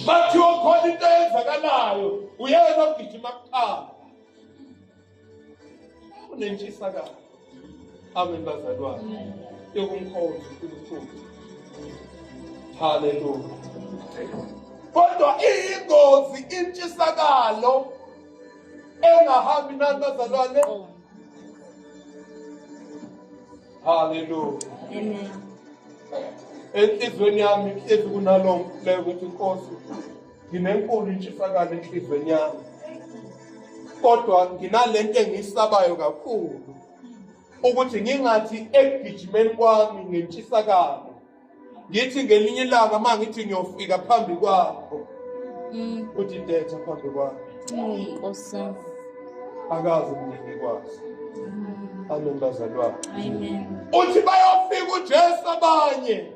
bathi okhona into eyenzakalayo uyena ogijima kuqala unentshisa kabi amen bazalwane yokumkhonza unkulunkulu haleluya kodwa iyingozi intshisakalo engahambi nani bazalwane Hallelujah. Amen. Enhlizweni yami ihlezi kunalo mfuleko ukuthi inkosi nginenkulu intshisakalo enhlizweni yami. Kodwa nginalento engiyisabayo kakhulu ukuthi ngingathi ekugijimeni kwami ngentshisakalo ngithi ngelinye ilanga uma ngithi ngiyofika phambi kwakho mm. uthi detha phambi kwakho nkosi akazi mina ngikwazi mm. amen bazalwane uthi bayofika ujesu abanye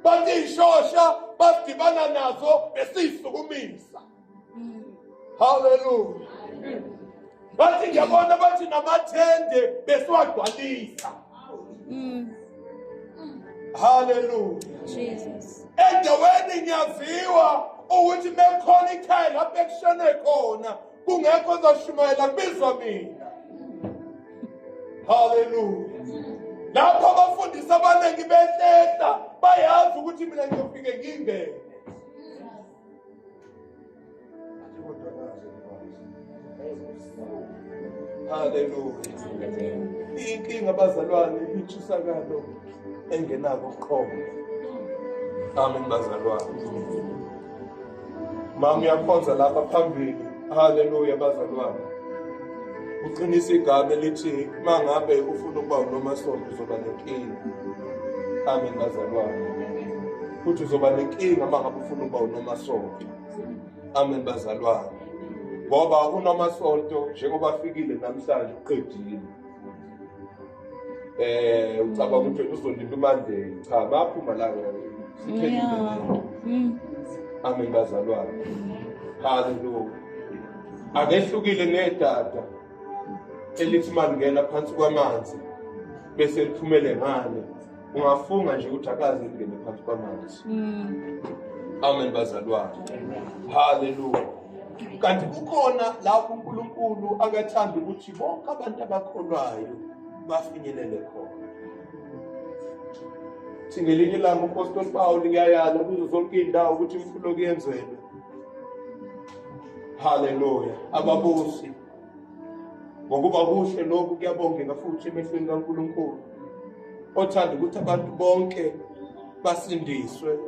bathi ishosha basidibana nazo besiyisukumisa haleluya bathi ngiyabona bathi namathende besiwagcwalisa haleluya endaweni ngiyaziwa ukuthi mekhona ikhaya lapho ekushone khona kungekho ozoshumayela kubizwa mina haleluya lapho abafundisi abaningi behlehla bayazi ukuthi mina ngiyofike ngingene Hallelujah. Inkinga abazalwane intshisakalo engenako uqobo. Amen bazalwane. Mama uyakhonza lapha phambili. Hallelujah bazalwane. Uqinisa igama elithi mangabe ufuna ukuba unomasonto uzoba nenkinga. Amen bazalwane. futhi uzoba nenkinga uma ngabe ufuna ukuba unomasonto amen bazalwane ngoba unomasonto njengoba afikile namhlanje uqedile eh ucabanga ukuthi uzondipha imandeni cha baphuma la siphelile mm. amen bazalwane haleluya akehlukile nedada elithi malingena phansi kwamanzi bese liphumele ngane ungafunga nje ukuthi akaze ngene phansi kwamanzi mm. amen bazalwane haleluya kanti kukhona lapho unkulunkulu akathanda ukuthi bonke abantu abakholwayo bafinyelele khona singelinye ilanga upostoli pawuli kuyayala kuzo zonke iy'ndawo ukuthi imfulo kuyenzelwe haleluya ababusi ngokuba kuhle lokhu kuyabongeka futhi emehlweni kaNkulunkulu othanda ukuthi abantu bonke basindiswe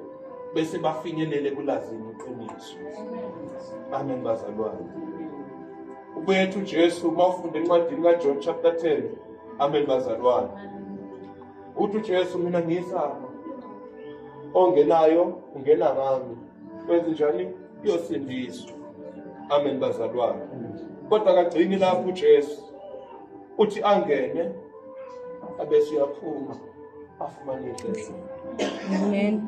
bese bafinyelele kulazini iqiniso amen bazalwane ubuyethu uJesu uma ufunda encwadini kaJohn chapter 10 amen bazalwane uthi uJesu mina ngiyisana ongenayo ungena ngami wenze njani uyosindiswa amen bazalwane kodwa kagcini lapho uJesu uthi angene abese uyaphuma afumane inhliziyo amen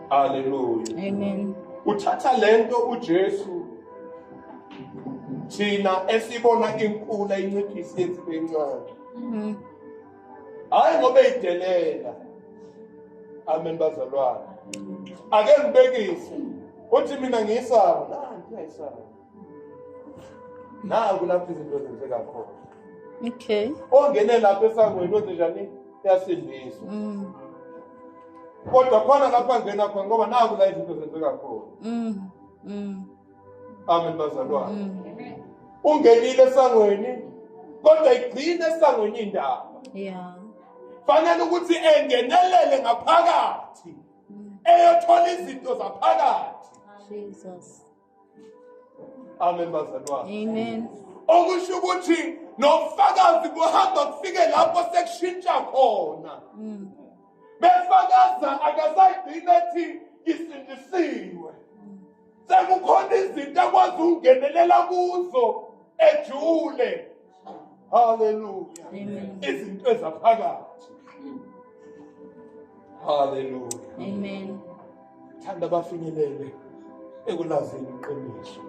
haleluya amen uthatha lento uJesu thina esibona inkula inciphisi yethu bencane mhm. hayi ngoba eyidelela amen bazalwane ake ngibekise uthi mina ngiyisaba nanti ngiyisaba naku lapho izinto zenzeka khona okay ongene lapho esangweni wenze njani yasindiswa mm. kodwa khona lapho angena khona ngoba naku la izinto zenzeka khona mm. mm. amen bazalwane mm. ungenile esangweni kodwa igcine esangweni indaba yeah fanele ukuthi engenelele ngaphakathi mm. eyothola izinto zaphakathi Jesus amen bazalwane amen okusho ukuthi nofakazi buhamba kufike lapho sekushintsha khona mm. befakaza akasayigcina ethi isindisiwe sekukhona izinto akwazi ukungenelela kuzo ejule haleluya izinto ezaphakathi haleluya amen thanda bafinyelele ekulazini iqiniso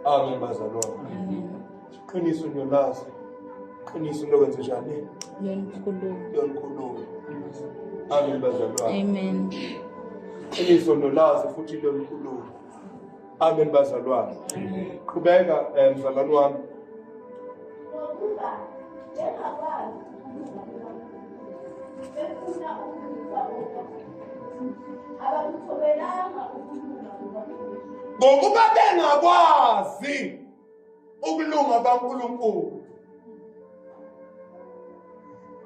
amen bazalwane Qiniso ngiyolazi. Qiniso lokwenze njani? Yonikhuluma. Yonikhuluma. Amen bazalwane. Amen. Qiniso nolazi futhi lonikhuluma. Amen bazalwane. Qhubeka eh, mzalwane wami. Ngokuba bengakwazi ukulunga kwaNkulunkulu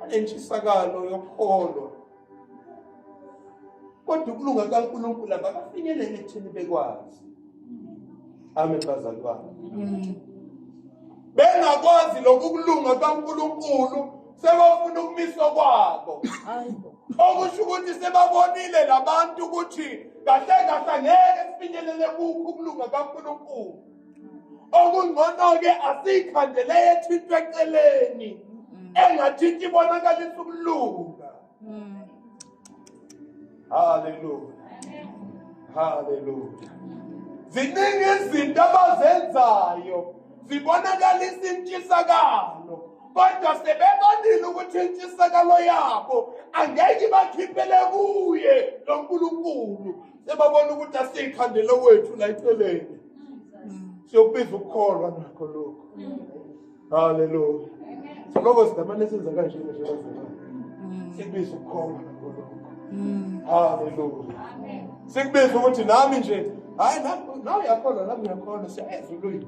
anentshisakalo yokholo kodwa ukulunga kaNkulunkulu abakafinyeleli ekuthini bekwazi amen bazalwane mm. bengakwazi lokhu kulunga kaNkulunkulu sebafuna ukumiswa kwabo okusho ukuthi sebabonile labantu ukuthi kahle kahle ngeke sifinyelele kukho ukulunga kaNkulunkulu okungcono-ke asiyikhandele ethintwe eceleni mm. engathinti ibonakalisa ukulunga mm. haleluya haleluya ziningi izinto abazenzayo zibonakalisa intshisakalo kodwa sebebonile ukuthi intshisakalo yabo angeke ibakhiphele kuye lo nkulunkulu sebabona ukuthi asiyikhandele wethu la eceleni siyokubiza ukukholwa nakho lokho haleluya siloko sidamane senza kanje nje sikubiza ukukholwa nakho lokho haleluya sikubiza ukuthi nami nje hayi nawe yakhona nami yakhona siyayenza ulwimi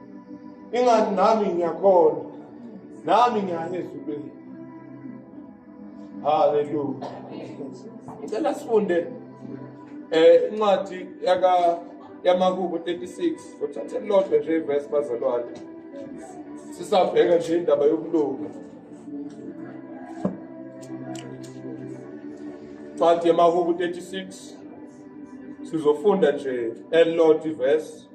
ingani nami ngiyakhona nami ngiyane ezulwini haleluya ngicela sifunde eh incwadi yaka yamakubo 36 uthathe lodwa nje iverse bazalwane sisabheka nje indaba yokulunga incwadi yamakubo 36 sizofunda nje elilodwa iverse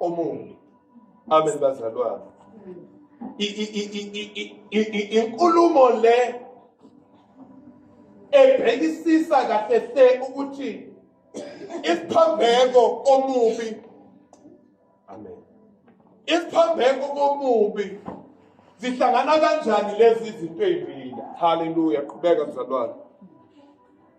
omubi amen bazalwane inkulumo le ebhekisisa kahle hle ukuthi isiphambeko omubi amen isiphambeko komubi zihlangana kanjani lezi zinto ezimbili haleluya qhubeka mzalwane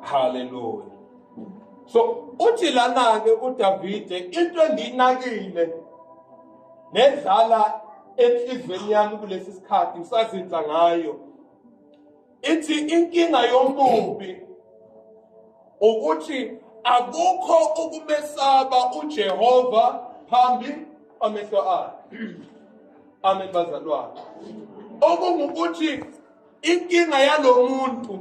haleluya so uthi lana-ke udavide into engiyinakile nedlala enhliziyweni yami kulesi sikhathi ngisazinza ngayo ithi inkinga yomubi ukuthi akukho ukumesaba uJehova phambi amehlo akhe amen bazalwane okungukuthi inkinga yalomuntu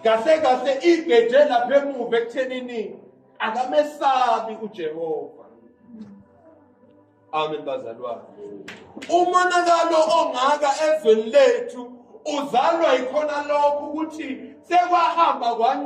kahle kahle igeje lapha emuva ekuthenini akamesabi uJehova Amen bazalwane. Umonakalo ongaka ezweni lethu uzalwa yikhona lokho ukuthi sekwahamba kwanye